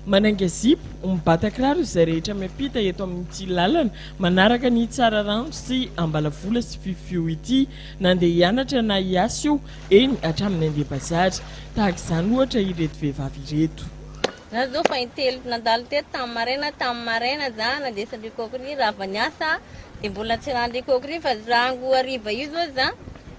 Manainga zipo, mibata kiraro izay rehetra miampita eto amin'ity lalana manaraka an'i Tsararano sy Ambalavola sy Fifio ity, na ndeha hianatra na hiasa io, eny hatramin'ny handeha bazary. Tahaka izany ohatra ireto vehivavy ireto. Za zao fa intelo nandalo teto tamin'ny maraina tamin'ny maraina za nandesan-dry Kokiry raha avy niasa dia mbola tsy ran'ny ry Kokiry fa rango hariva io zao za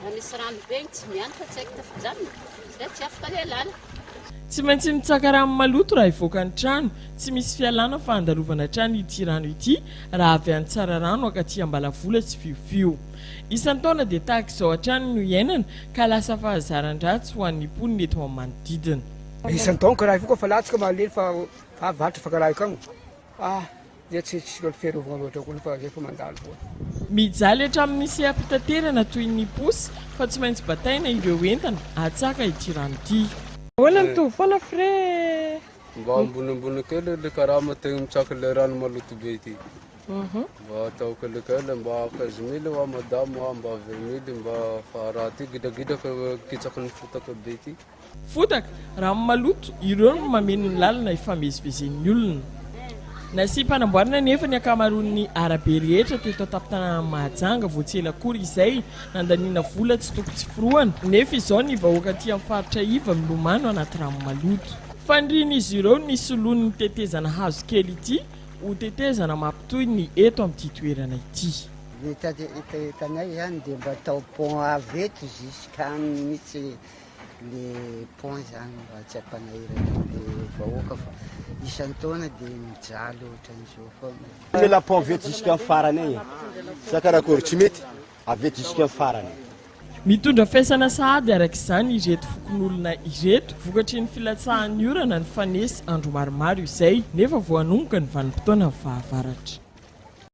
Raha misy rano be tsy miany fa tsy haiko tafijanona dia tsy afaka ny alana. Tsy maintsy mitsaka rano maloto raha hivoaka ny trano, tsy misy fialana fa andalovana hatrany ity rano ity raha avy any Tsararano ankaty Ambalavola sy Fiofio. Isan-taona dia tahaka izao hatrany no iainana ka lasa fahazaran-dratsy ho an'ny mponina eto amin'ny manodidina. Isan-taona karahiko koa fa latsaka malemy fa avy varotra fa karahiko agny. Ah! dia tsy tsy mba fiarovana loatra koa ny fa zay fa mandalo foana. Mijaly hatramin'ny seha-pitaterana toy ny posy fa tsy maintsy bataina ireo entana atsaka ity rano ity. Ahoana mitovy foana frais? Mba ambonimbony kely ilay karama tegna mitsaka ilay rano maloto be ity. Mba atao kelikely mba quinze mille hoa madame hoa mba vingt mille mba fa raha ty gidragidraka kitsaky ny fotaka be ty. Fotaka, rano maloto, ireo no mameno ny lalana hifamezivezen'ny olona. Nasiam-panamboarana anefa ny ankamaroan'ny arabe rehetra teto an-tampon-tanànan'i Mahajanga vao tsy ela akory izay, nandaniana vola tsy toko tsy forohana, nefa izao ny vahoaka aty amin'ny faritra iva milomano anaty rano maloto. Fanirian'izy ireo ny hisoloan'ny tetezana hazo kely ity ho tetezana mampitohy ny eto amin'ity toerana ity. Ny etanay izany dia mba atao pont avy eto jusqu'any mihitsy. le pont zany mba tsy hampanahirana ny vahoaka fa isan-taona dia mijaly ohatran'izao foana. Le la pont avy eto jusqu'à farany agny. Sa karakory? Tsy mety avy eto jusqu'à farany. Mitondra faisana sahady araka izany ireto fokonolona ireto, vokatry ny filatsahan'ny orana nifanesy andro maromaro izay, nefa vao hanomboka ny vanim-potoanan'ny fahavaratra.